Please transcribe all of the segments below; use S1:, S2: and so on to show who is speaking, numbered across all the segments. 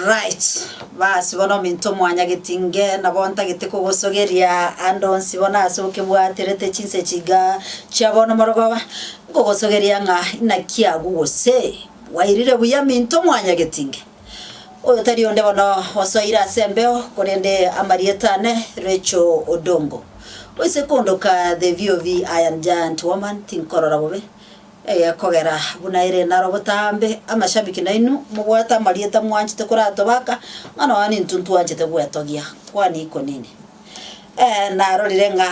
S1: Right, basi bono ominto omwanyagetie inge nabo ntagete kogosogeria ande onsi bono ase okebwaterete chinse chiga chia bono morogoba, nkogosogeria ng'a inaki agwo gose bwairire buya minto omwanyagetie inge. Oyo tari onde bono osoire ase embeo korende amarieta ane Rachel Odongo. Oise kondoka the VOV Iron Giant Woman tinkorora bobe, Eye kogera buna ere naro botambe, amashabiki nainwe mobwate amarieta mwanchete koratobaka, ng'a nonya nintwe ntwanchete gwetogia, kwani iko nini? Ee, narorire ng'a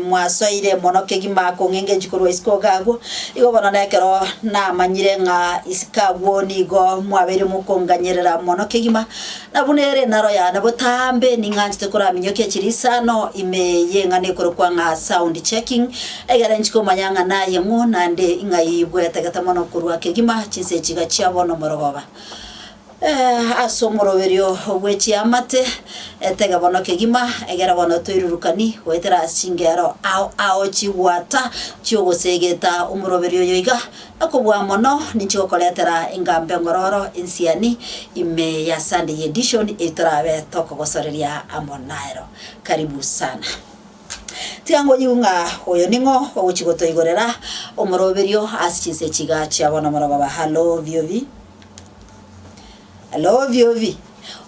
S1: mwasoire mono kegima kong'enga enchiki korwa isiko ogakwa, igo bono nekero namanyire ng'a isiko agwo nigo mwabeire mokonganyerera mono kegima, Na buna ere enaro y'ane botambe, ning'anchete koraminyokie chirisano ime y'eng'ana ekorokwa ng'a sound checking, egere nchike omanya ng'a naye ng'o naende ng'ai bwetegete mono korwa kegima chinse chiga chia bono omorogoba. Eh, ase omoroberio bwe chiamate, etege bono kegima, egere bono toirurukani goetera ase chingero ao ao chigwata chi'ogosegeta omoroberio oyo iga, Okobua mono ninche gokoretera engambe ngororo ensiani ime ya Sunday Edition eye torabe tokogosoreria amo nero. Karibu sana. Tiga ngoyigu ng'a oyo ning'o ogochi gotoigorera omoroberio ase chinse chiga chiabo nomoroba ba Hallo Viovi. Alo obi obi,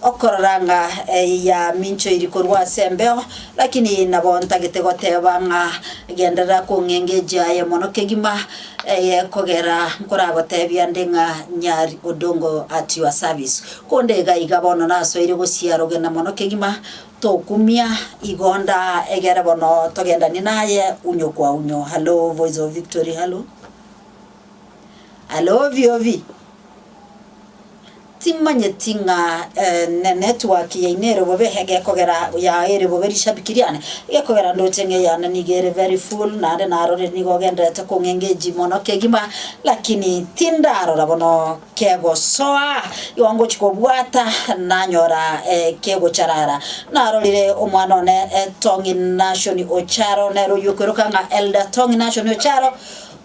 S1: okorora ng'a eye yaminchoiri korwa ase embeho, lakini eye nabo ntagete goteba ng'a genderera kong'engeji aye mono kegima, eye kogera nkoragotebie ande ng'a nyari Odongo at your service. Konde iga iga bono nasoire gosiara ogenda mono kegima, tokumia igonda egere bono togendanie naye unyo kwa unyo. Halo voice of victory halo. Are obiobi, timanyeti ng'a enetwork yaino ere bobe egekogera yao ere bobe rishabiki riane, egekogera ndoche ng'a eyane nigo ere very full naende narorire nigo ogendererete kong'engage mono kegima, lakini tindarora bono kegosoa, igo ngochia kobwata nanyora kegocharara. Narorire omwana one Tong'i Nashoni Ocharo, nere oyio okoiroka ng'a Elder Tong'i Nashoni Ocharo,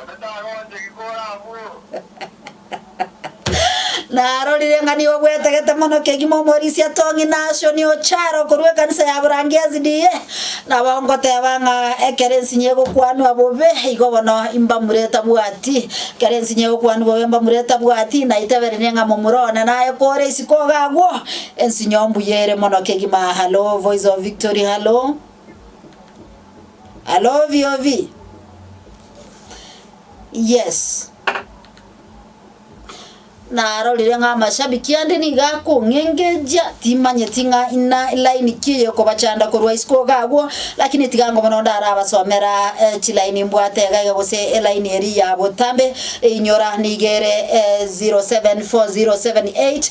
S1: Onde tagonche ki kore abwo? Narorire ng'a nigo gwetegete mono kegima omorisia Tong'i Nashoni Ocharo korwa ekanisa ya Burangia SDA, nabo ngoteba ng'a ekero ensinyo egokwanwa bobe igo bono imbamura etabwati. Ekero ensinyo egokwanwa bobe imbamura etabwati, naiteberenie ng'a momura one naye kore isiko iga agwo, ensinyo mbuya ere mono kegima. Hallo, Voice of Victory, hallo. Alove you vi. Yes. Narorire ng'a amashabiki ande niga akong'engejia timanyeti ng'a ina line ki eyokobachanda korwa isiko iga agwo lakini tiga ango mono ndarabasomera eh, chilaini mbwate iga iga gose elaini eri ya botambe einyora niga ere eh, 07407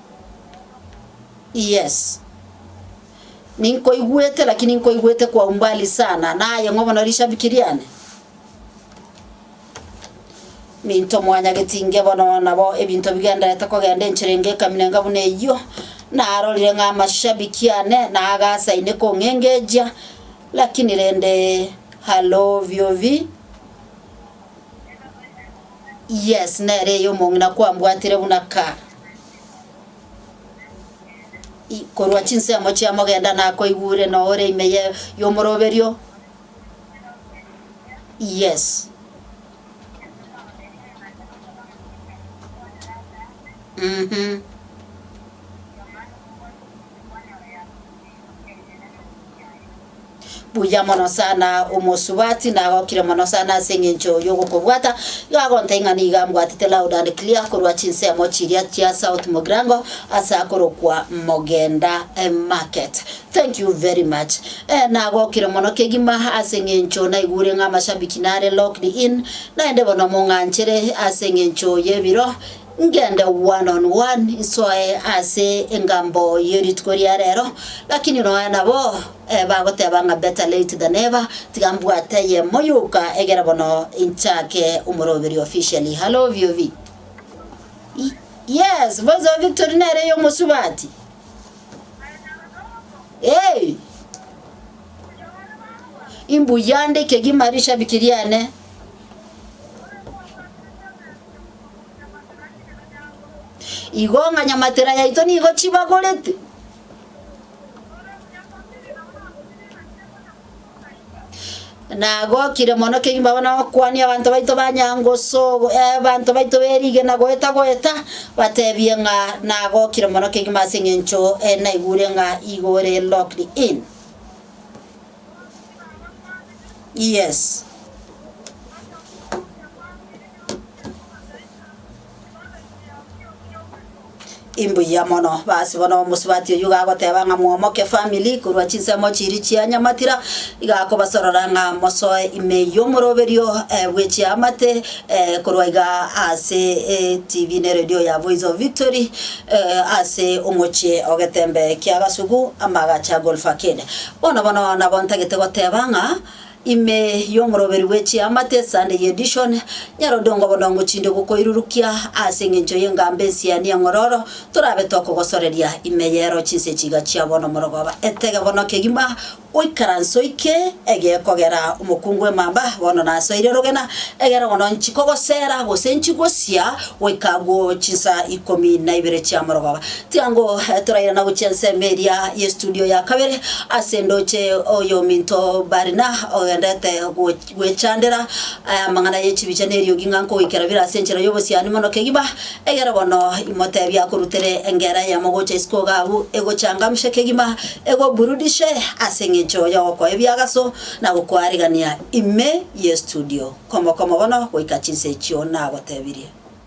S1: Yes. Ninkoigwete lakini nkoigwete kwa umbali sana naye ng'o bono rishabiki riane. Minto mwanyageti inge bono nabo ebinto bigenderete kogenda enchera enge ekaminenga buna eyio narorire ng'a amashabiki ane nagasaine kong'engejia lakini rende halo biobi yes nere eye omong'ina kwambwatire buna ka korwa chinsemo chia mogenda nakoigure noore ime ye y'omoroberio yes mm-hmm buya mono sana omosubati nagokire mono sana ase eng'encho yogokobwata igo agontebia ng'a nigo ambwatete loud and clear korwa chinsemo chiria chia south mogirango ase akorokwa mogenda eh, market thank you very much eh, nagokire mono kegima ase eng'encho naigure ng'a amashabiki nare locked in naende bono mong'anchere ase eng'encho y'ebiro Ngende one on one nsoe ase engambo ye rituko ria rero, lakini nonya nabo bagoteba ng'a better late than never, tiga mbwate eyemo yoka egere bono inchake omoroberio officially. Hallo VOV. Yes, Voice of Victory nere eyomosubati. Hey! Imbuya nde ekegima rishabiki riane. Igo ng'a nyamatera yaito nigo chibagorete. Nagokire mono kegima abana bakwania abanto baito ba nyangosogo eh, abanto baito berigena goeta goeta batebie ng'a nagokire mono kegima ase eng'encho eh, naigure ng'a igo ore locked in. Yes. Imbuya mono basi bono omosubati oyio gagoteba ng'a mwomoke family korwa chinsemo chiri chia nyamatira iga akobasorora ng'a mosoe ime y'omoroberio eh, bwe chiamate eh, korwa iga ase eh, tv ne radio ya voice of victory eh, ase omochie ogetembe kia gasugu amagacha golf arcade bono bono nabo ntagete goteba ng'a Ime y'omoroberi bwe chiamate, esande y'edishon, nyarodongo bodongo chinde gokoirurukia, aase engencho y'engamba ensiani eng'ororo, torabe tokogosoreria ime y'ero chinse chiga chia bono morogoba. Etege bono kegima, oikaranse oike ege kogera omokungu bw'emamba, bono nasoire rogena, egera bono nchikogosera, gose nchigosia goika agwo chinsa ikomi na ibere chia morogoba. Tiango torairana gochia ensemo eria ye studio ya kabere ase ndoche oyominto Barina ogendete gwechandera aya amang'ana ye chibicha ne eriogi ng'a nkogoikera bire ase enchera y'obosiani mono kegima, egere bono imotebi akorutere engera eyemo gocha isiko iga abwo egochangamshe kegima egoburudishe ase eng'encho y'ogokoa ebiagaso na gokoarigania ime ye studio komo komo bono goika chinsa echio nagotebirie.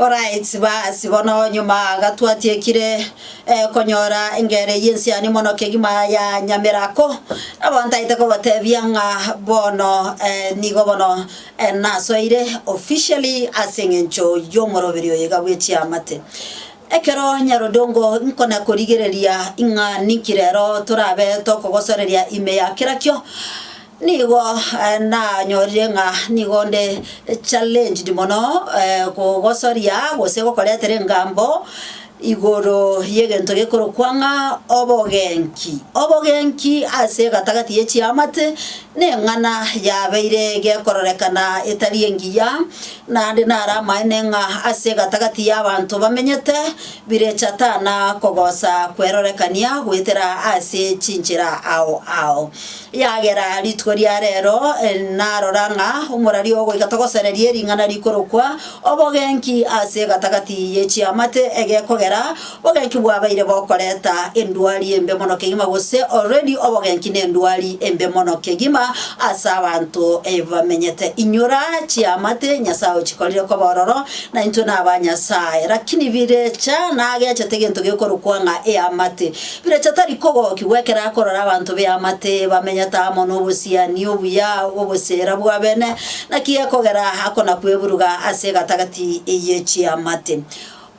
S1: Alright, basi bono nyuma iga twatiekire eh, konyora engere eyio ensiani mono kegima ya nyamerako nabo ntaete kobotebia ng'a bono eh, nigo bono eh, nasoeire officially ase eng'encho y'omoroberi oyo iga bwe chiamate ekero nyarodongo nkona korigereria ing'a ninki rero torabe tokogosoreria ime ya kera kio Nigo nanyorire ng'a nigo nde challenged mono kogosoria gose gokoretera engambo igoro y'egento gekorokwa ng'a obogenki. Obogenki ase egatagati ye chiamate neng'ana yabeire gekororekana etari engiya, naende naro amaene ng'a ase egatagati y'abanto bamenyete birechatana kogosa kwerorekania goetera ase chinchera ao ao. Eagera rituko ria reero narora ng'a omoraria ogoika togosereria ering'ana rikorokwa obogenki ase egatagati ye chiamate egekogera bogenki bwabaire bokoreta endwari embe mono kegima gose already obogenki nendwari embe mono kegima ase abanto bamenyete. Inyora chiamate Nyasae ochikorire koba ororo na intwe naba Nyasae. Lakini birecha nagechete egento gekorokwa ng'a eamate. Pirato tari kogokigwa ekero akorora abanto b'eamate bamenyete amo nobosiani obuya bw'obochera bw'abene. Naki ekogera aa akona-kweburuga ase egatagati eye chiamate.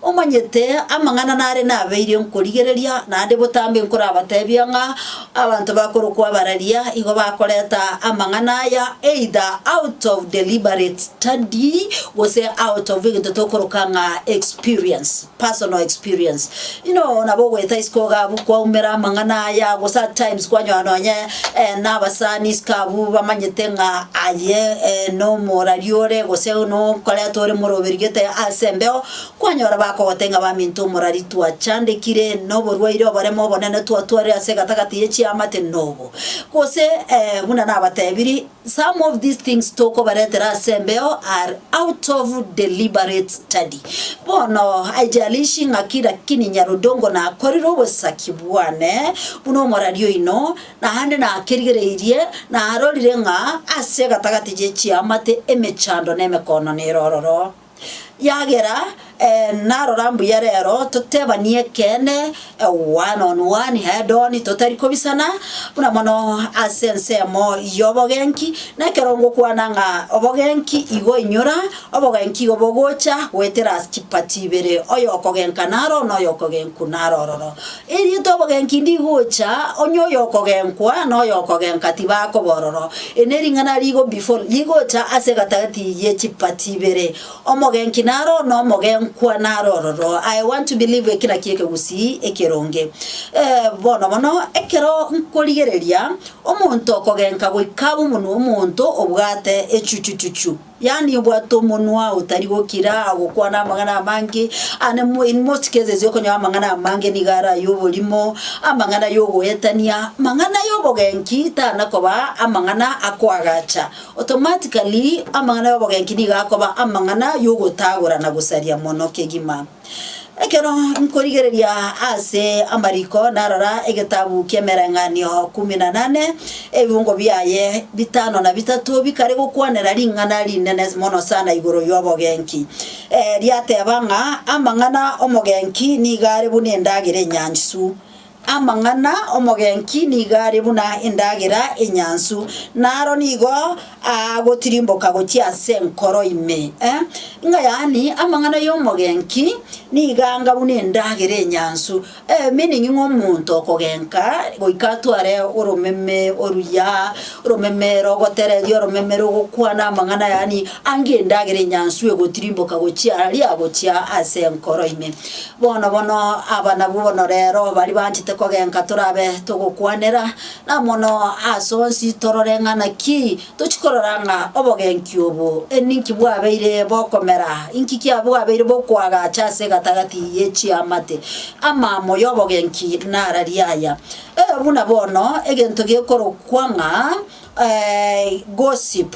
S1: Omanyete amang'ana nare nabeire nkorigereria, naende botambe nkorabatebia ng'a abanto bakorokwa abararia igo bakoreta amang'ana aya either out of deliberate study gose out of egento tokoroka ng'a experience. personal experience, Inwe oo nabo ogoeta isiko iga abwo kwaumera amang'ana aya, gose at times kwanyora nonye nabasani isiko abwo bamanyete ng'a aye nomorari ore gose nokoretwa ore moroberio gete ase embeo, kwanyora bakogotebi ng'a baminto omorari twachandekire noborwaire oboremo obonene twatwarire ase egatagati ye chiamate nobo. Gose buna nabatebirie Some of these things tokobaretera ase embeo are out of deliberate study. Bono, haijalishi ng'aki lakini Nyarudongo nakorire obosaki bwane buna omorari oino, naende nakerigereirie, narorire ng'a ase egatagati ye chiamate emechando na emekoononero ororo. Yagera narora mbuya rero totebanie ekeene one on one, head on, totari kobisana, buna mono ase ensemo y'obogenki. Na ekero ngokwana ng'a obogenki igo inyora, obogenki igo bogocha goetera ase chipati ibere, oyokogenka naro na oyokogenku naro ororo. Erio tobogenki ndigocha, onye oyokogenkwa na oyokogenka tibakobororo. Eri nering'ana rigo before rigocha ase egatagati ye chipati ibere, omogenki naro oo na omogenkwa naro ororo. I want to believe eki nakio ekegusii ekeronge. Eh, bono bono, ekero nkorigereria omonto okogenka goika abe omonwa omonto obwate echuchuchuchu, Yaani obwate omonwa otari gokira, gokwana amang'ana amange, ande mo in most cases okonyora amang'ana amange nigo are ay'oborimo, amang'ana y'ogoetania, mang'ana y'obogenki tanakoba amang'ana akoagacha. Automatically amang'ana y'obogenki nigo akoba amang'ana y'ogotagora na gosaria mono kegima. Ekero nkorigereria ase amariko narora egetabu ki'Emereng'anio Kumi na Nane, ebibungo biaye bitano na bitato bikare gokwanera ring'ana rinene mono sana igoro y'obogenki. Riateba ng'a amang'ana 'omogenki nigo are buna endagera enyansu, Amang'ana 'omogenki nigo are buna endagera enyansu, na aro nigo aagotirimboka gochia ase enkoro ime. Ng'a yaani, amang'ana y'omogenki nigo anga buna endagera enyansu, meaning ng'a omonto okogenka goika atware oromeme oruya, oromeme rogotereria, oromeme rogokwana amang'ana yaani ange endagera enyansu egotirimboka gochia aria gochia ase enkoro ime. Bono bono aba nabwo bono reero baria banchete kogenka torabe togokwanera, na mono ase onsi torore ng'a naki tochia korora ng'a obogenki obo ninki bwabeire bokomera, inki kiabwabeire bokoagacha ase egatagati ye chiamate. Amaamo y'obogenki nara riaya, ee buna bono egento gekorokwa ng'a gossip.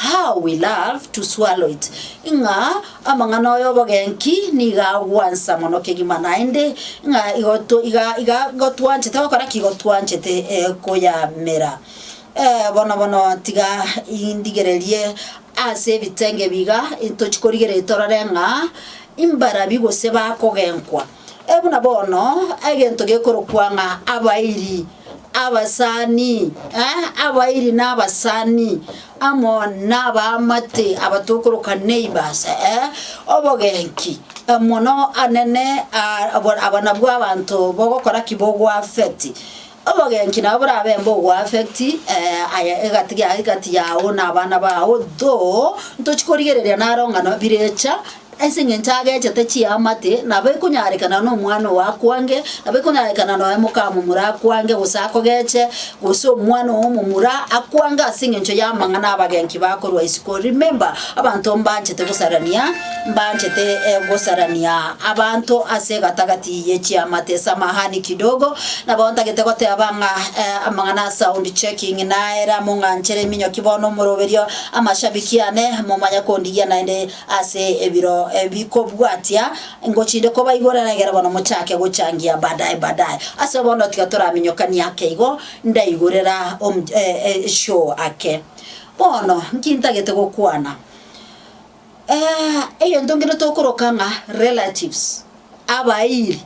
S1: How we love to swallow it ng'a amang'ana aya obogenki niga agwansa mono kegima naende ng'a igo to iga iga igo twanchete gokora ki igo twanchete eh, koyamera Eh, bono bono tiga indigererie ase ebitenge biga intochi korigereria torore ng'a imbarabi gose bakogenkwa Ee buna bono, egento gekorokwa ng'a abairi, abasani, ee, abairi na abasani, amo nabaamate aba tokoroka neighbours, ee, obogenki mono anene aa, abo nabwo abanto bogokora ki? Bogoaffect. Obogenki nabo borabe mbogo affect aya egati giaye egati yao na abana bao though ntochi korigereria naro ng'a no birecha ase eng'encho agechete chiamate nabo ekonyarekana na omwana ogo akwange nabo ekonyarekana nonya mokamomura akwange gose akogeche gose omwana ogo omomura akwange ase eng'encho y'amang'ana abagenki bakorwa isiko. Remember abanto mbanchete gosarania. Mbanchete gosarania abanto ase egatagati ye chiamate ase amahane kidogo, nabo ntagete goteba ng'a amang'ana a sound checking naere among'anchere eminyoki bono omoroberio amashabiki ane momanye kondigia naende ase ebiro bikobwatia ngochinde kobaigorera egere bono mochake gochangia badae badae. Ase bono tiga toraminyokanie ake igo ndaigorera show ake. Bono nki ntagete gokwana? Egento nkere tokoroka ng'a relatives, abairi.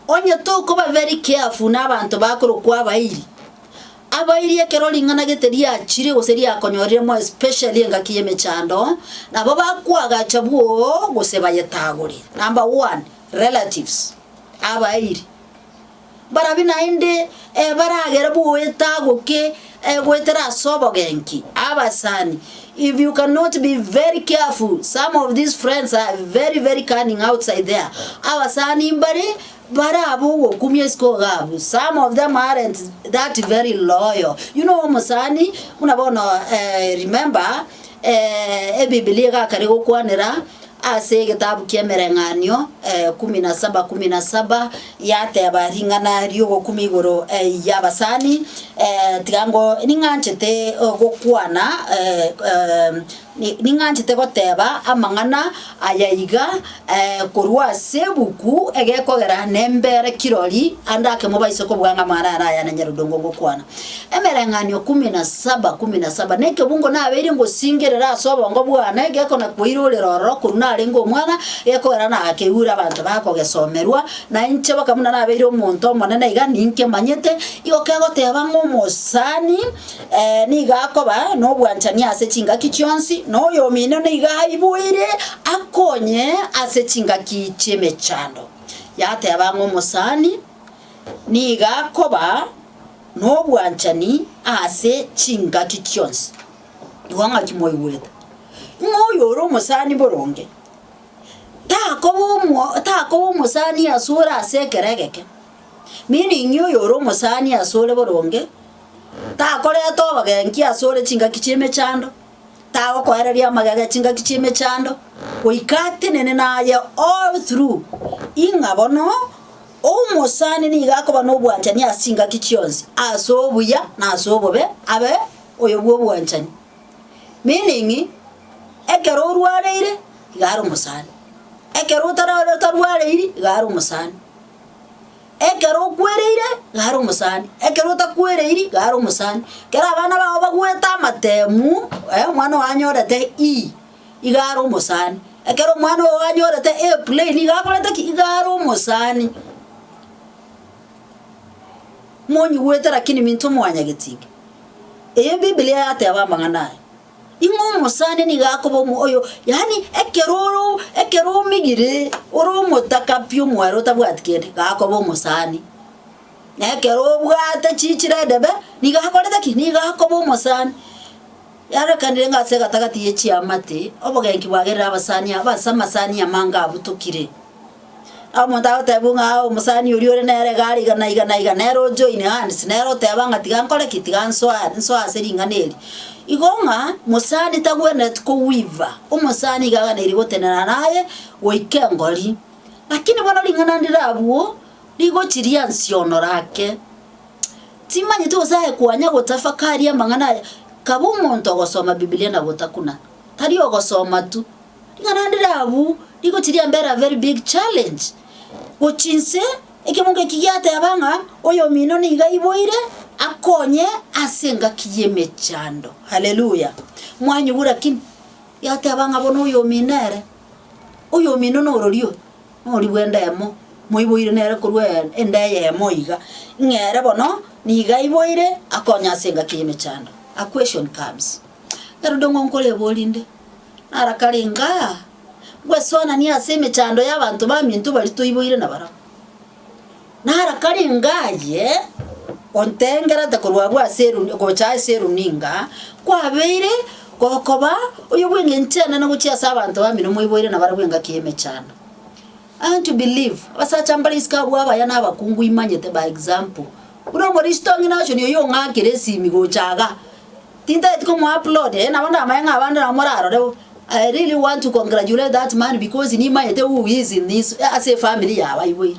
S1: Onye tokoba very careful nabanto bakorokwa abairi, abairi ekero ring'ana gete riachire gose riakonyorire more especially engaki y'emechando, nabo bakoagacha bwoo gose bayetagore. Number one, relatives, abairi. Barabwo naende baragere boetagoke goetera ase obogenki abasani. If you cannot be very careful some of these friends are very very cunning outside there. Abasani mbare bare abwo ogokumia isiko iga abwo. Some of them aren't that very loyal. You know omosani buna bono remember ebibilia iga akare gokwanera Ase egetabu ki'Emereng'anio, kumi na saba, kumi na saba, yateba ring'ana ri'ogokumia igoro y'abasani, tiga ngo ning'anchete gokwana, ning'anchete goteba amang'ana aya iga, korwa ase ebuku egekogera nembere kirori ande ake mobaise kobua ng'a amang'ana aya naro aya na Nyarudongo ngokwana. Emereng'anio kumi na saba kumi na saba Nekebungo nabeire ngosingerera ase obongo bwane, gekonakoira orere ororo korwa narenge omwana, gekoera nakeure abanto bakogesomerwa, na inche baka buna nabeire omonto omonene iga ninkemanyete, igo kegoteba ng'a omosani nigo akoba nobwanchani ase chingaki chionsi, na oyomino nigo aiboire akonye ase chingaki chi'emechando. Yateba ng'a omosani nigo akoba. nobwanchani ase chingaki chionsi. Igwa ng'aki mwaigwete, ng'a oyore omosani boronge takoba omo takoba omosani asore ase ekero egeke, meaning oyore omosani asore boronge takoreta obogenki asore chingaki chi'emechando. tagokoereria amagega e chingaki chi'emechando, goika atenene naye all through, ing'a bono omosani nigo akoba nobwanchani ase chingaki chionsi, ase obuya na ase obobe abe oyo bw'obwanchani. Meaning, ekero orwareire iga are omosani, ekero otara otarwareiri iga are omosani. Ekero okwereire, gara omosani, ekero otakwereiri, gara omosani. Ekero abana bao bagwete amatemu, eh, omwana ogo anyorete E, iga ara omosani. Ekero omwana ogo anyorete A plain iga akorete ki? Iga ara omosani. Monyigwete lakini minto mwanyagetinga. Eye Biblia yateba amang'ana aya. Ing'o omosani nigo akoba omo oyo, yaani ekero oro ekero omigire, ore omotaka pi omware otabwati kende, iga akoba omosani. Na ekero obwate chichiro edebe, nigo akorete ki? Nigo akoba omosani. Yarorekanire ng'a ase egatagati ye chiamate, obogenki bwagerire abasani aba ase amasani amange abutokire. Omonto agotebigwa ng'a aa omosani oria ore nere iga are iga na iga na iga, nere ojoine aa onsi nere oteba ng'a tiga nkore ki tiga nsoa nsoa ase ring'ana eri. Igo ng'a mosani tagwenereti koweaver, omosani iga aganeiri gotenena naye goika engori. Lakini bono ring'ana ndire abwo, rigochi riansionora ake, timanyeti gose aye kwanya gotafakari amang'ana aya, kaba omonto ogosoma bibilia na gotakuna, tari ogosoma tu. Ing'ana ndire abwo nigo chiri ambere a very big challenge. Gochia inse, ekemogo eki giateba ng'a oyomino nigo aiboire akonye ase engaki y'emechando. Haleluya! Mwanyigwa lakini? Yateba ng'a bono oyomino ere, oyomino nororio, nororia bw'enda eyemo, moiboire nere korwa e- enda eyemo iga, ng'a ere bono nigo aiboire akonye ase engaki y'emechando. A question comes, erinde ng'o nkoreboria inde, Narakarenge aa, ngwesuananie ase emechando y'abanto baminto baria toiboire nabarabwo. Narakarenge aye, ontengerete korwa abwo ase eruni gocha ase eruninga, kwabeire gokoba oyo bw'engencho enene gochia ase abanto bamino moiboire nabarabwo engaki y'emechando. I want to believe, abasacha mbare isiko abwo abaya nabakungu imanyete by example. Buna omoristo onge naochoni oyio ong'akire esimi gocha iga, tintageti komoa upload, eh nabo ndamanye ng'a abande nabo morarore bo, I really want to congratulate that man because nimaete who he is in this ase efamiri yabo aiboire.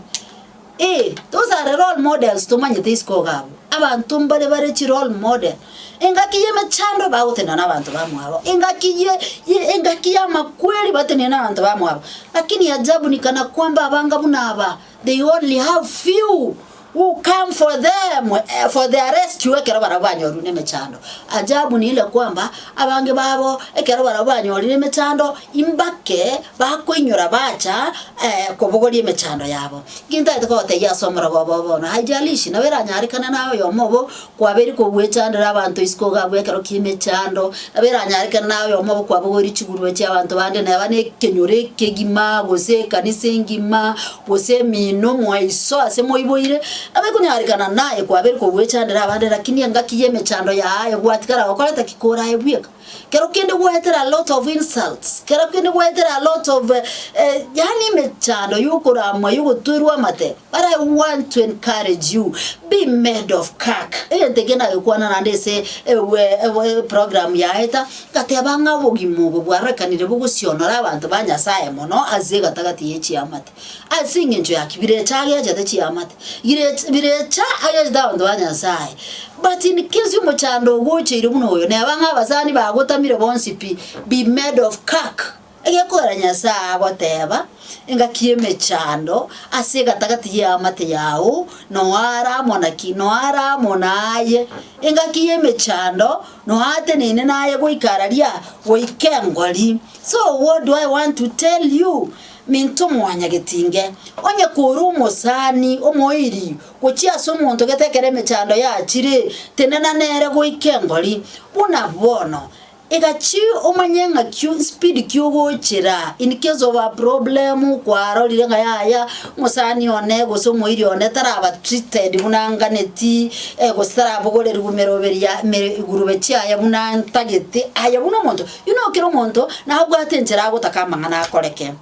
S1: Eeh those are role models tomanyete isiko iga abwo, abanto mbare bare chi role model, engaki y'emechando bagotenena na abanto bamwabo, engaki ye ye engaki y'amakweri batenene na abanto bamwabo, lakini ajabu ni kana kwamba abanga buna aba. They only have few who come for them, eh, for their rescue ekero barabwo banyorire emechando. Ajabu ni ile kwamba, abange babo ekero barabwo banyorire emechando, imbake bakoinyora bacha eh, kobogoria emechando yabo. Gintagete kogotebia ase omoroba obo bono, haijalishi nabo eranyarekane naye oyomo obo Kwaberi kogwechandera abanto isiko gabue ekero ki'emechando, nabo eranyare kera nayomo gokwabogoria chigurube chi'abanto bande, neba nekenyoro ekegima, gose ekanisa engima, gose emino moe iso ase moiboire, nabo ekonyarekana naye kwaberi kogwechandera abande, rakini engaki y'emechando yaaye gwatigara gokoreta ki korae bweka? Kero kende gwaetera a lot of insults, kero kende gwaetera a lot of eh, eh, yaani emechando yokoramwa yogotwerwa amate. But I want to encourage you, be made of kirk. Egento eke nagekwana naende ase ewe, ewe program yaeta, ngateba ng'a obogima obo bwarorekanire bogosionora abanto ba Nyasaye mono ase egatagati ye chiamate. Ase engencho y'aki birecha ageachete chiamate, girecha birecha ageachete abanto ba Nyasae. But in case omochando ogocheire buna oyo, neba ng'a abasani bagotamire bonsi pi, be made of cack. Egekogera Nyasae agoteba, engaki y'emechando ase egatagati y'eamate yao, noara amo naki? Noara amo naye. Engaki y'emechando noateneine naye goika araria, goika engori. So what do I want to tell you? Minto mwanyagetinge, onye kore omosani omoiri gochia ase omonto gete ekero emechando yachire, tenena nere goika engori. Buna bono, iga chi omanye ng'aki speed ki ogochera in case of a problem kwarorire ng'a yaya omosani one gose omoiri one taraba treated buna anganeti gose tarabogoreru meroberi ya me igurube chiaye buna ntagete aye buna omonto Inwe kera omonto nabwate enchera agotaka amang'ana akoreke,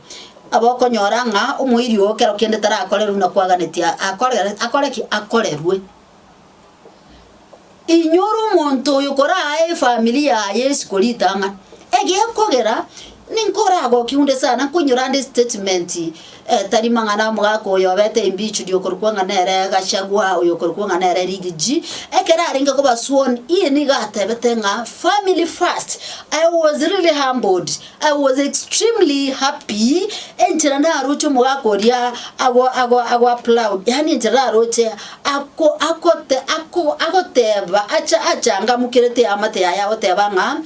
S1: abokonyora ng'a omoiri oo kero kende tarakorerwe na kwaganetie akorere akore ki? Akorerwe. Inwe ore omonto oyo koraae efamiri yaye isiko ritang'ani, egekogera ninka oragokiunde sana nkoinyora ande estatement tari mang'ana omogaka oyo obete embichu riokorokwa ng'a nere Gachagua oyokorokwa ng'a nere Rigiji, ekero arenge koba sworn in nigo atebete ng'a family first, I was really humbled, I was extremely happy enchera naroche omogaka oria ago ago ago applaud yaani enchera naroche ako akote ako agoteba acha achangamukerete eamate yaye agoteba ng'a.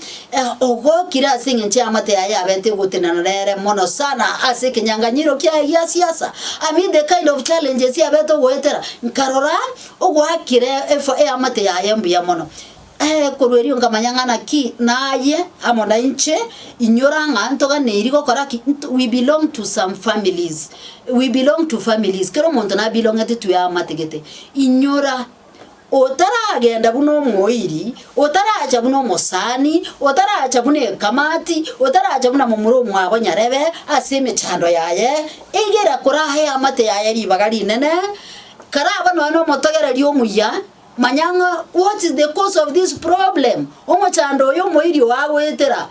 S1: Ogokire ase engencho y'amate aye abete ogotenana nere mono sana ase ekenyanganyiro kiaye gia siasa. Amid the kind of challenges abete ogoetera, nkarora ogoakire efa y'amate yaye mbuya mono. Ee, korwa erio nkamanya ng'a naki naye amo nainche inyora ng'a ntoganeiri gokora ki? Nto we belong to some families, we belong to families, kera omonto nabelong'eti to y'amate gete. Inyora otaragenda buna omoiri, otaracha buna omosani, otaracha buna ekamati, otaracha buna momura omwabo nyarebe ase emechando yaye, egera koraha eamate yaye ribaga rinene, karaba nonya nomotogereri omuya, manya ng'a what is the cause of this problem, omochando oyo omoiri oo agoetera.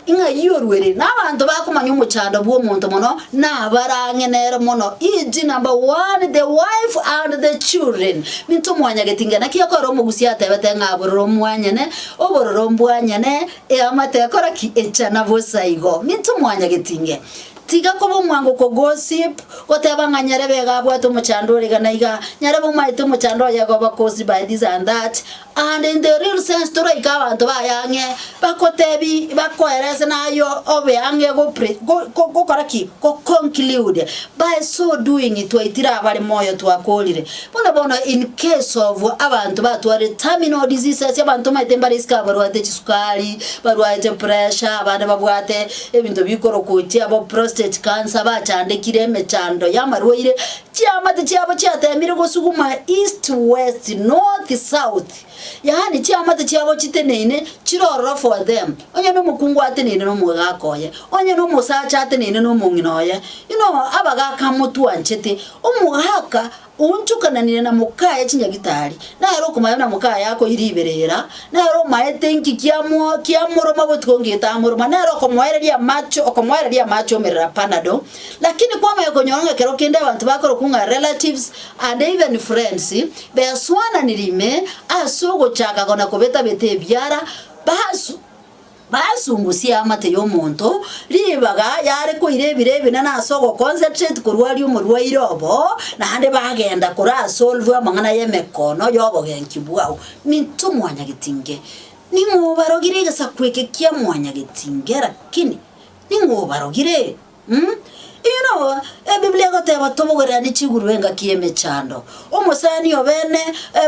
S1: Ng'ai oruere nabanto bakomanya omochando bw'omonto mono nabarang'enere mono inche number one the wife and the children minto mwanyageti ng'a naki okorora omogusia atebete ng'a abororo omwanyene obororo ombwanyene eamate ekora ki echana bosa igo minto mwanyageti ng'e tiga koba omwango ko gossip goteba ng'a nyarebe iga abwate omochando ore iga na iga nyarebe omaete omochando oye iga obakos by this and that Aande inteo Renaissance toraika abanto baye ang'e bagotebi bakoerese nayo obe ang'e go pre go go gokora ki? Go conclude by so doing twaitire abare moyo twakorire buna bono in case of abanto batwarire terminal diseases abanto omanyete mbare isiko abarwate chisukari barwate pressure abande babwate ebinto bikorokochia bo prostate cancer bachandekire emechando y'amarwaire Chiamate chiabo chiateemire gosuguma east, west, north, south, yaani chiamate chiabo chiteneine chire ororo for them, onye nomokungu ateneine nomogaaka oye, onye nomosacha ateneine nomong'ina oye, you know abagaaka motwanchete, omogaaka oonchokananire na mokaye chinyagitari, nere okomae buna mokaye akoire ibere ira, nere omaete enki kiamo kiamoroma botuko ngeito amoroma, nere okomoereria amache okomoereria amache omerera panadol, Lakini kwamanya konyora ng'a ekero kende abanto bakorokwa ng'a relatives and even friends beswananirie ime ase ogochaka gona kobeta-beta ebiara, basu basungusie amate y'omonto, ribaga yare koira ebiro ebinene ase ogoconcentrate korwaria omorwaire obo, naende bagenda korasolve amang'ana y'emekono y'obogenki bwao nintwe mwanyagetinge. Ning'o obarogire egesaku eke kia mwanyagetinge, lakini. Ning'o obarogire? Umm. Eyio nabo Ebiblia egoteba tobogereranie chigurube engaki y'emechando. Omosani obene,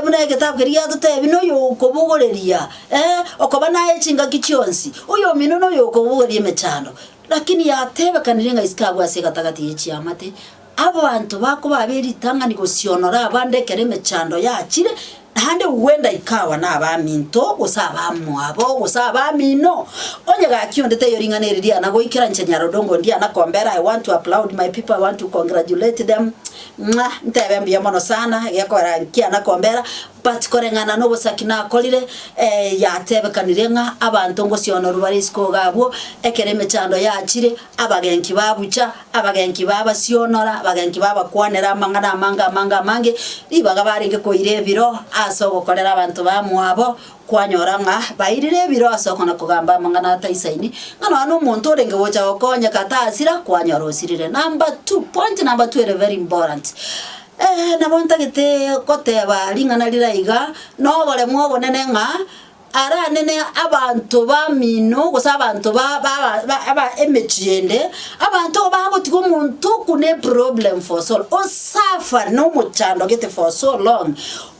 S1: buna egetabu keria giatotebi, noyo okobogoreria, ee, okoba naye chingaki chionsi, oyomino noyo okobogoreria emechando. Lakini yatebekanire ng'a isiko agwo ase egatagati ye chiamate, Abanto bakoba abe ritang'ani gosionora abande ekero emechando yachire, naende gwenda ikawa nabaminto, gose abamwabo, gose abamino. Onye gaki onde taiyo ring'ana eri riana goikera inche Nyarodongo ndiana kombera I want to applaud my people, I want to congratulate them, mwah, ntebe mbuya mono sana egekogera nkiana kombera, but koreng'ana nobosaki nakorire, yatebekanire ng'a abanto ngosionorwa bare isiko iga abwo, ekero emechando yachire, abagenki babucha, Abagenki babasionora, abagenki babakwanera amang'ana amange amange amange, ribaga barenge koira ebiro ase ogokorera abanto bamwabo, kwanyora ng'a bairire ebiro ase okona-kogamba amang'ana ataisaini, ng'a nonya nomonto orenge gocha gokonyeka tasira, kwanyora osirire. Number two, point number two ere very important, nabo ntagete goteba ring'ana riria iga, na oboremu obonene ng'a. aranene abanto bamino, gose abanto ba ba ba aba emechie ende, abanto igo bagotiga omonto oku ne problem for so long, o suffer na omochando gete for so long,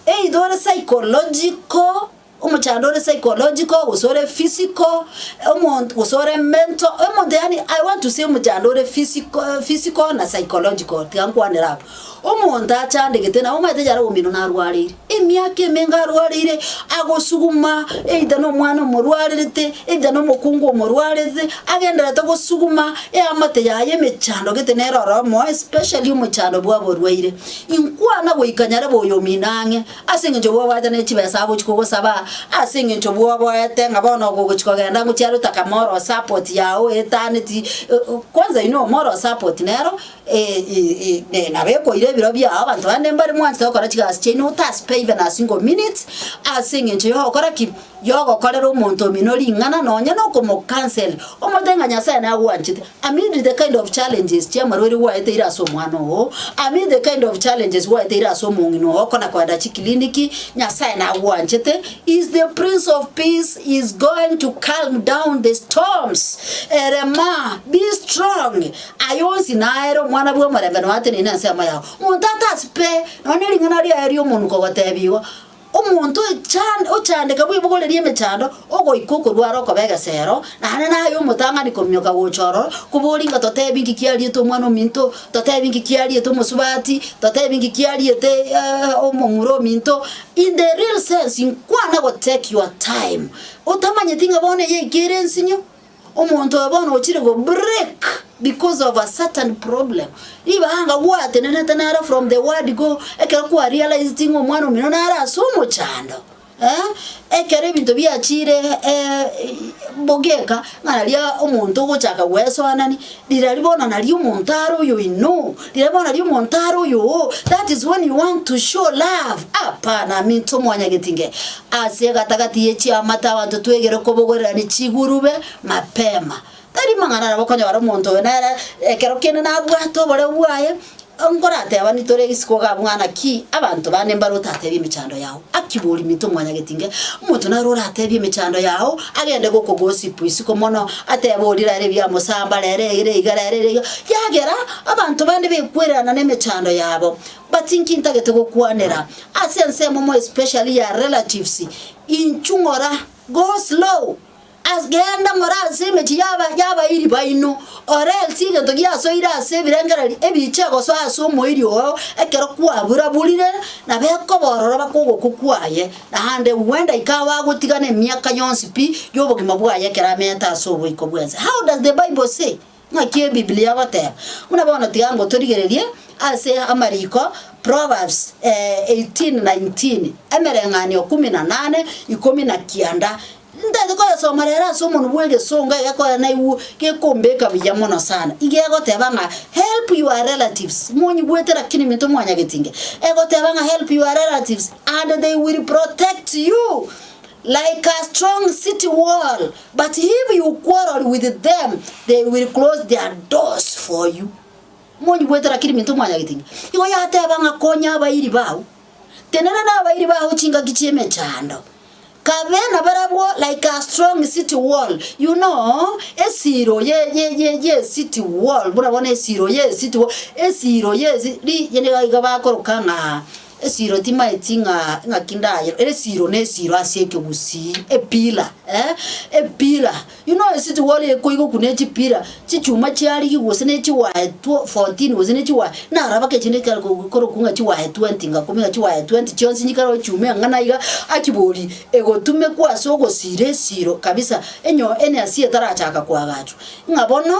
S1: either ore psychological, omochando ore psychological gose ore physical, omonto gose ore mental, omonto yaani I want to say omochando ore physical physical na psychological tiga nkwanera abwo. Omonto achandegete na omanyete yare omino narwareire, emiaka emenga arwareire, agosuguma either nomwana omorwarerete, either nomokungu omorwarerete, agendererete gosuguma eamate yaye emechando gete nere oro omoyo especially omochando bwaborwaire. Inkwana goika nyarebe oyo omino ang'e, ase eng'encho bwobwate ne chibesa agochi kogosaba, ase eng'encho bwoboete ng'a bono ogochi kogenda ngochiare otaka moral support yago oetaneti, kwanza you know moral support nero. Ee, nabo ekoira ebiro biao. Abanto bande mbare mwanchete gokora chigasi chiaino otasuka even a single minute, ase eng'encho yogokora ki? Yogokorera omonto omino ring'ana nonya na okomocancel, omotebia ng'a Nyasaye nagwanchete. Amid the kind of challenges chia amarwaire gwaeteire ase omwana oo, amid the kind of challenges gwaeteire ase omong'ina oo okona koenda chikliniki, Nyasaye nagwanchete, he is the Prince of Peace, he is going to calm down the storms. Erema, be strong, Aya onsi naere omwana bw'omorembe noyo ateneine ensemo yao. Monto atasibe nonya ring'ana riaye ri'omonuko gotebigwa, Omonto ocha- ochandeka bw'ebogori ri'emechando, ogoika okorwara okoba egesero, naende naye omotang'ani kominyoka gocha ororo, kobori ng'a totebi inki kiariete Omwana ominto, totebi inki kiariete omosubati, totebi inki kiariete omomura ominto. In the real sense, inkwana go take your time, otamanyeti ng'a bono eye eke ere ensinyo. Omonto oyo bono ochire go break because of a certain problem. Ribaga anga gwatenenete naro from the word go, ekero kwa realized ng'a omwana omino nare ase omochando. Eh? Ekero ebinto biachire eh, bogeka ng'a naria omonto ogochaka gwesoanani, Riria bono nari omonto are oyo inno, riria bono nari omonto are oyo oo, that is when you want to show love, apana aminto mwanyageti nge. Ase egatagati ye chiamate abanto twegere kobogorirani chigurube mapema. Tari mang'ana nabo okonyora omonto oyo nere ekero kende nabwate oboreu bwaye, Nkoratebanwe tore isiko ga mwana ki abanto bane mbare otatebia emechando yao, akigwe oriminto omwanyagetinge, omonto naro oratebie emechando yao agende gokogosip isiko mono, atebe oria rero ebiamosamba rero eye rero iga rero ere iga, kiagera abanto bande bekwererana nemechando yabo, but inki ntagete gokwanera ase ensemo more especially ya relatives, inchu ng'ora, go slow. As, genda more ase emechie y'aba y'abairi baino, orensie egento giasoire ase ebirengererio ebiiche gosoa ase omoiri oo ekero kwabura-burire, na bekoba ororo bake ogokwa kwaye, naende gwenda ikawa agotigana emiaka yonsi pi y'obogima bwaye ekero ameete ase oboiko bw'ense. How does the Bible say? Naki Ebiblia egoteba, Buna bono tiga ngotorigererie ase amariko, Proverbs, eh, eighteen nineteen, Emereng'anio kumi na nane, ikomi na kianda, Ntagete koyesoma rero ase omonwa bw'egesongo egekogera naigw gekombeka buya mono sana. Iga egoteba ng'a help your relatives, monyigwete lakini minto mwanyagetinge, egoteba ng'a help your relatives and they will protect you like a strong city wall. But if you quarrel with them, they will close their doors for you. Monyi bwete rakiri minto mwanyagete ng'a. Igo yateba ng'a konya abairi bao. Tenena na abairi bao chingaki chiemechando. Kabe na barabwo like a strong city wall. You know, esiro ye ye ye ye city wall. Buna bono esiro ye city wall. Esiro ye si- ri yende iga bakoroka ng'a Esiro timaeti ng'a ng'aki ndayo, esiro ne esiro ase ekegusii, epillar eh, epillar. You know a city wall ekoigwa okwo ne chipillar, chichuma chiarigigwa gose ne chiwaye two fourteen gose ne chiwaye, naraba kera echiende ekero ko korokwa ng'a chiwaye twenty ng'a kumi ng'a chiwaye twenty chionsi nchikare ochiume ang'ana iga, aki bori egotumekwa ase ogosiira esiro kabisa enyo ene asie etarachaka koagachwa. Ng'a bono.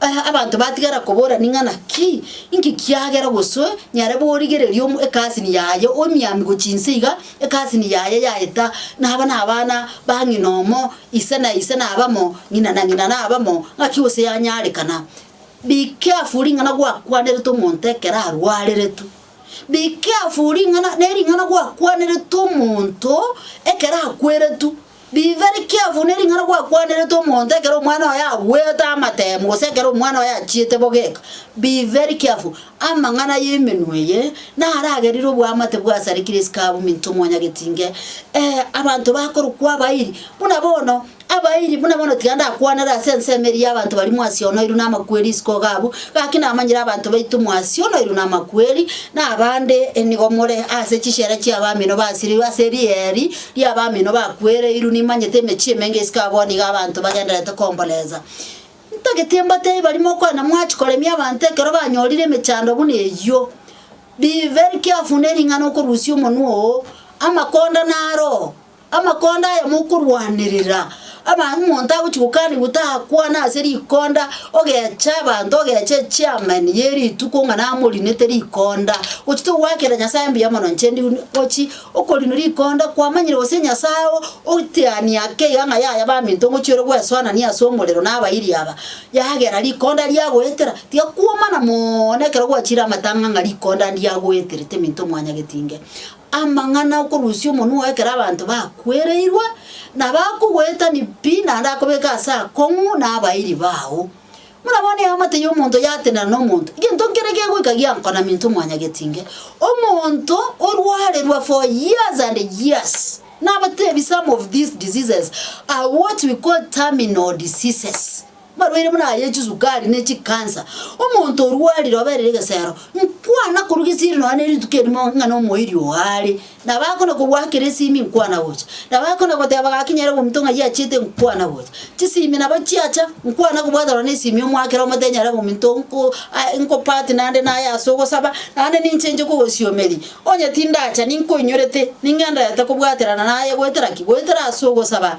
S1: Aya abanto batigara kobora ning'ana ki? Inki kiagera gosoe nyare borigereria omo ekasini yaye oemiami gochia inse iga, ekasini yaye yaeta, na aba nabana ba ng'ina omo, ise na ise nabamo, ng'ina na ng'ina nabamo, ng'aki gose yanyarekana? Be careful ring'ana gwakwanerete omonto ekero arwareretu. Be careful ring'ana nering'ana gwakwanerete omonto ekero akweretu. Bibere kiafu ne ring'ana gwakwanerete omonto ekero omwana oye agwete amatemo gose ekero omwana oye achiete bogeka. Bibere kiafu, amang'ana y'emenwa eye naragerire oboamate bwasarekire isiko abwo minto omonyageti inge. Ee, abanto bakorokwa abairi, buna bono abairi buna bono tiga ndakwanere ase ensemo eria y'abanto baria mwasio onoirwe namakweri isiko iga abwo, gaki namanyire abanto baito mwasio onoirwe namakweri, na abande nigo more ase chisera chi'abamino basireirwe ase erieri Ria abamino bakwereirwe nimanyete emechie emenge isiko abwo nigo abanto bagendererete komboresa. Ntagete mbatebi baria mokwana mwachia koremia abanto ekero banyorire emechando buna eyio. Be very careful ne ring'ana okorusia omonwa oo, amakonda naro oo, amakonda aya mokorwanerera. Aba omonto agochia gokanigwa takwana ase rikonda ogecha abanto ogecha echairman ye rituko ng'a namorinete rikonda. Gochi togoakera Nyasae mbuya mono inche ndi gochi. Okorino rikonda, kwamanyire gose Nyasae oo otiania keiga ng'a yaya baminto ngochiore gwesoanania ase omorero nabairi aba, yagera rikonda riagoetera, tiga kwomana mooono ekero gwachiire amatang'a ng'a rikonda ndiagoeterete minto mwanya getinge. Amang'ana okorusia omonwa oo ekero abanto bakwereirwe, na bakogoetani pi naende akobeke ase akong'u nabairi bao. Buna bono eamate y'omonto yatenena nomonto, egento nkere gegoika giankona minto mwanyagetinge, omonto orwarerwa for years and years, nabatebi some of these diseases are what we call terminal diseases, marwaire buna aya chisukari ne chicancer, omonto orwarire oberire egesero, nkwana korwa gesieri nonya ne rituko erimo ng'a nomoiri oo are, Na bakona kogwakera esimi nkwana gocha, na bakona goteba gaki nyare obominto ng'ai achiete nkwana gocha. Chisimi nabo chiacha, nkwana kobwatanwa na esimi omwakera omo tenyare obominto nko a nko part naende naye ase ogosaba, naende ninche inche kogosiomeria. Onye tindacha ninkoinyorete, ning'endererete kobwaterana naye goetera ki? Goetera ase ogosaba.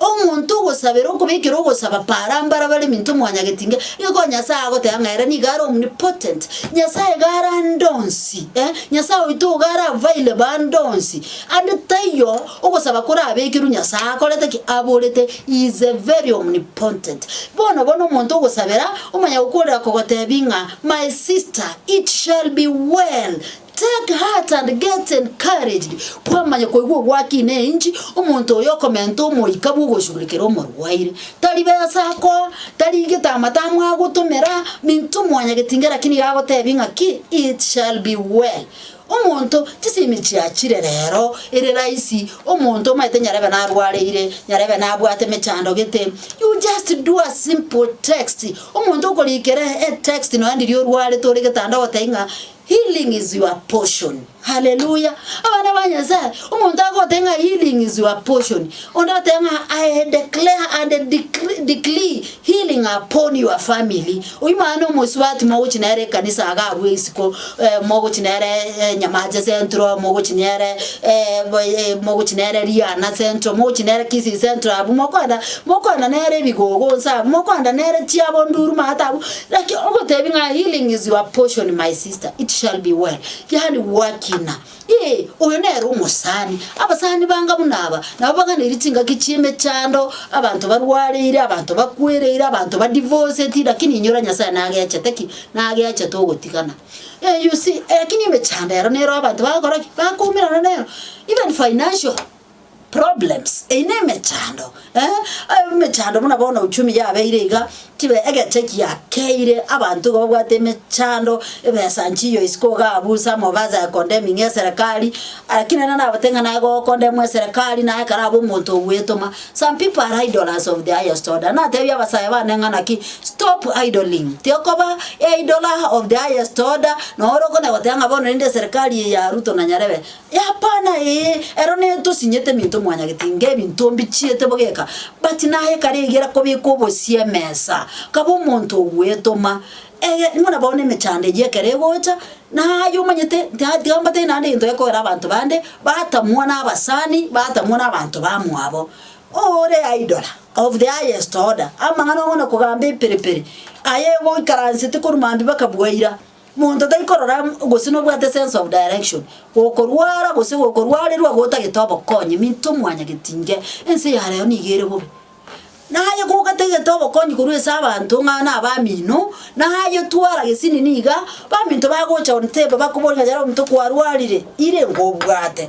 S1: Omonto ogosabera okobekera ogosaba para mbara bare minto mwanyagetinga, igo Nyasae agoteba ng'a ere nigo are omnipotent, Nyasae iga are ande onsi eh, Nyasae oito iga are available ande onsi. Ande taiyo ogosaba korabekerwe Nyasae akorete ki? Aborete, he is a very omnipotent. Bono bono omonto ogosabera, omonyagokworera kogotebi ng'a, my sister, it shall be well, Take heart and get encouraged, kwamanya koigwa ogwaki ne enchi, omonto oyo okomenta omoika bw'ogoshugurikera omorwaire. Tari besa akoa, tari egetama tamwagotomera, minto mwanya getinga naki nigo agotebia ng'a ki, it shall be well. Omonto chisemi chiachire rero, ere rahisi, omonto omanyete nyarebe narwareire, nyarebe nabwate emechando gete, you just do a simple text, omonto okorikera etext nonya riria orwarete ore getanda ogotebia ng'a Healing is your portion hallelujah abana ba Nyasaye omonto agogotebi ng'a healing is your portion onde agotebi ng'a I declare and decree decree healing upon your family oyio mwana na omosubati mogochia nere ekanisa iga abwo isiko eh, mogochia nere eh, Nyamache Central mogochia nere eh, bo- eh, mogochia nere Riana Central mogochia nere Kisii Central abwo mokoenda mokoenda nere ebigogo nsa abwo mokoenda nere chiabo nduruma ata abwo Naki ogotebi ng'a healing is your portion my sister, it shall be well, yaani gwakina, ee, oyo nere omosani. Abasani banga buna aba nabo baganeiri chingaki chi'emechando, abanto barwareire, abanto bakwereire, abanto ba divorceti, lakini inyora Nyasaye nagechete ki? Nagechete ogotigana. Ee, you see, lakini emechando ero nero abanto bagakora ki? Bakoumerana nero, even financial. problems, eyio na emechando, eh, emechando buna bono uchumi yabeire iga, chibe egete giakeire abanto igo babwate emechando, ebesa nchiyo isiko iga abwo ase amabaso aye condemning eserekari, lakini nere nabwate ng'a naye gokondemwa eserekari naye ekero abe omonto ogwetoma. Some pipo are idlers of the highest order, natebie abasae bane ng'a naki stop idling, tiokoba eidler of the highest order, noro okona goteba ng'a bono rende eserekari eye ya Ruto na Nyarebe, Hapana ee, ero ne tosinyete eminto mwanyagete inga ebinto mbichiete bogeka, but naye kare egera kobeka obosie emesa, kaba omonto ogwetoma, ege buna bono emechando eyio ekero egocha, naye omanyete ta tiga mbatebie naende egento gekogera abanto bande, batamwa na abasani, batamwa na abanto ba mwabo, ore idol of the highest order, amang'ana ong'ana kogamba eperepere, aye goikaransete korwa mambia baka bwaira. Monto tari korora amo gose nobwate sense of direction, gokorwara gose gokorwarerwa gotagete obokonyi minto mwanyageti inge, ense ya reo nigo ere bobe. Naye gogatagete obokonyi korwa ase abanto ng'a na abamino, naye twara gesinini iga, baminto bagocha one teba bakobori ng'a yare omonto kwarwarire, ire ngobwate.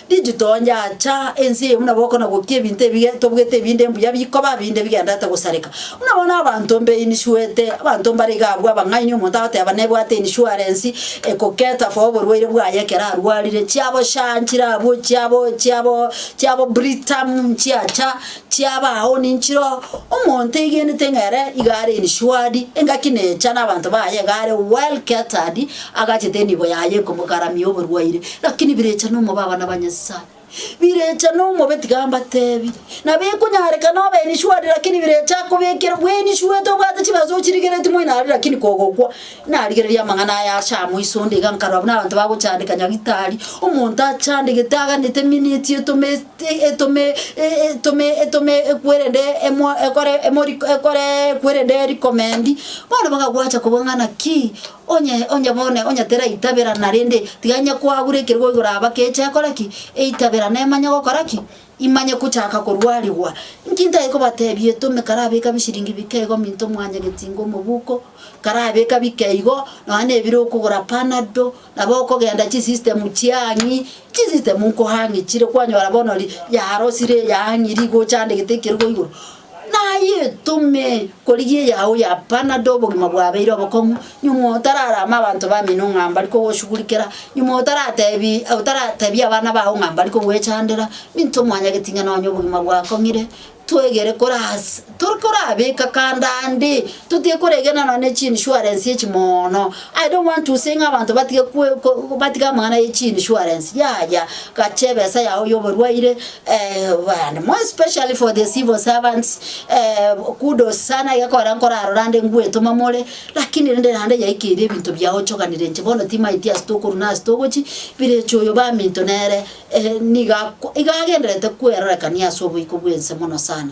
S1: Inchuo toonyacha ense eye buna boko na gokia ebinto ebiya tobwete ebinde mbuya bikoba binde bigendererete gosareka. Buna bono abanto mbe iniswete, abanto mbare iga abwo abang'aini omonto agoteba nebwate inishuarensi ekoketa for oborwaire bwaye ekero arwarire, chiabo sha nchirabwo chiabo chiabo chiabo Britam nchiacha, Chiaba ao ninchire oo, omonto eigenete ng'a ere iga are insured, engaki necha nabanto baye iga are well catered, agachete enibo yaye ekomogaramia oborwaire. Rakini birecha nomobe abana ba Nyasaye, birecha nomobe tiga mbatebi, nabo ekonyarekana obe insured rakini birecha akobekere bweinsuete obwate chibaso ochirigereti moino aria rakini kogokwa, Narigereria amang'ana aya aase amo iso onde iga nkarora buna abanto bagochandeka Nyagitari, omonto achandegete aganete eminiti etome etome etome etome ekwerende emo ekore emori ekore ekwerende recommend, bono bakagwancha kobua ng'a naki onye onye bono onye teraitabera narende tiga onye kwagure ekero gwaigure aba keche akore ki? Eitabera nemanye gokora ki. Imanye kochaka korwarigwa. Inki ntai kobatebia etome karabeka bishiringi bike igo minto mwanyageti ingo omobuko karabeka bike igo nonya na ebiro okogora panado nabo okogenda chi system chiang'i chi system nkohang'e chire kwanyora bono ri yarosire yang'iri igochandegete ekero igoro. Naye etome korigia eyao ya panado obogima bwabeire obokong'u, nyuma otararame abanto bamino ng'a mbari kogoshugurikera, nyuma otaratebi otaratebie abana bao ng'a mbari kogwechandera, minto omwanyageti ng'a nonye obogima bwakong'ire, twegere koras tori korabeka kando ande, totiga koregena nonye ne chiinsurance echi moono. Aye omwanchuse ng'a abanto batige batige amang'ana ye chi insurance yaya gacha ebesa yao yoborwaire and more especially for the civil servants kudos sana egekogera nkorarora ande ngwetoma more lakini rende naende yaikeire ebinto biao ochoganire inche bono timaeti ase tokorwa na ase togochi bireche oyo baminto nere niga iga agendererete kwerorekania ase oboiko bw'ense mono sana.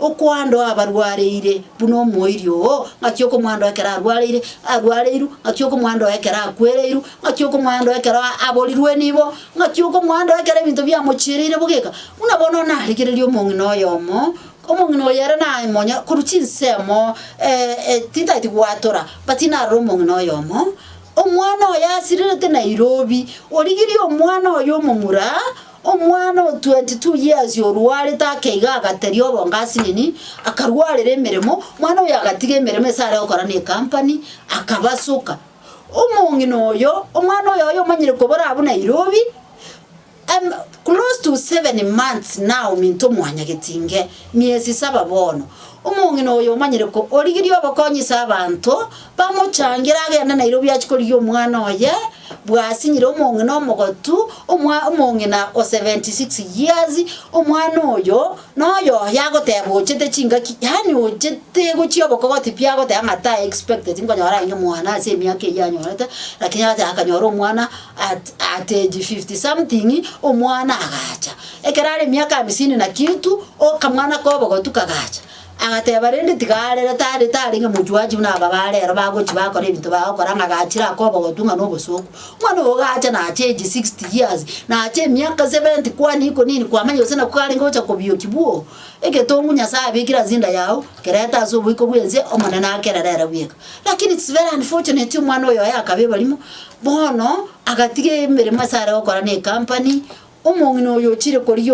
S1: Okoandoa abarwareire, buna omoiri oo, ng'aki okomoandoa ekero arwareire, arwareiru, ng'aki okomoandoa ekero akwereiru, ng'aki okomoandoa ekero aborirwe nibo, ng'aki okomoandoa ekero ebinto biamochiereire bogeka, buna bono narigereria omong'ina oyomo, omong'ina oyo ere naye monye korwa chinsemo tintageti gwatora, but narora omong'ina oyomo, omwana oye asirerete Nairobi, origirie omwana oye omomura. Omwana o 22 years orwarete akeiga agateria obonga asinini, akarwarera emeremo, omwana oyo agatiga emeremo ase are gokora ne company, akabasoka. Omong'ina oyo, omwana oyoyo omanyire kobora abwo Nairobi, em close to seven months now minto mwanyageti inge, miezi saba bono. Omong'ina oyo omanyire ko origirie obokonyisa abanto bamochangere agende naira obiachi korigia omwana oye bwasinyire omong'ina omogotu, omwa omong'ina o 76 years, omwana oyo noyoye agoteba ochete chingaki yaani ochete gochia obokogoti pi agoteba ng'a tae expected nkonyora aye omwana ase emiaka eyio anyorete, lakini agateba akanyora omwana at at age fifty something omwana agacha. Ekero are emiaka amisini na kintu, okamwana k'obogotu kagacha. Agateba, rende tiga arere, tari tari ng'a mochie oachie buna aba bare ero bagochia bakora ebinto bagokora, ng'a gachire ake obogotu ng'a nobosooku. Omwana ogo gacha nacha age sixty years, nacha emiaka seventy kwani iko nini kwamanya gose nako karenge gocha kobioki bwoo. Egetong'u Nyasaye abekire ase inda yago, kereta ase oboiko bw'ense, Omonene akerere ere bweka. Lakini it's very unfortunate omwana oyo oye akaba ebarimo. Bono agatiga emeremo asare gokora ne ekampani, omong'ina oyo ochire korigia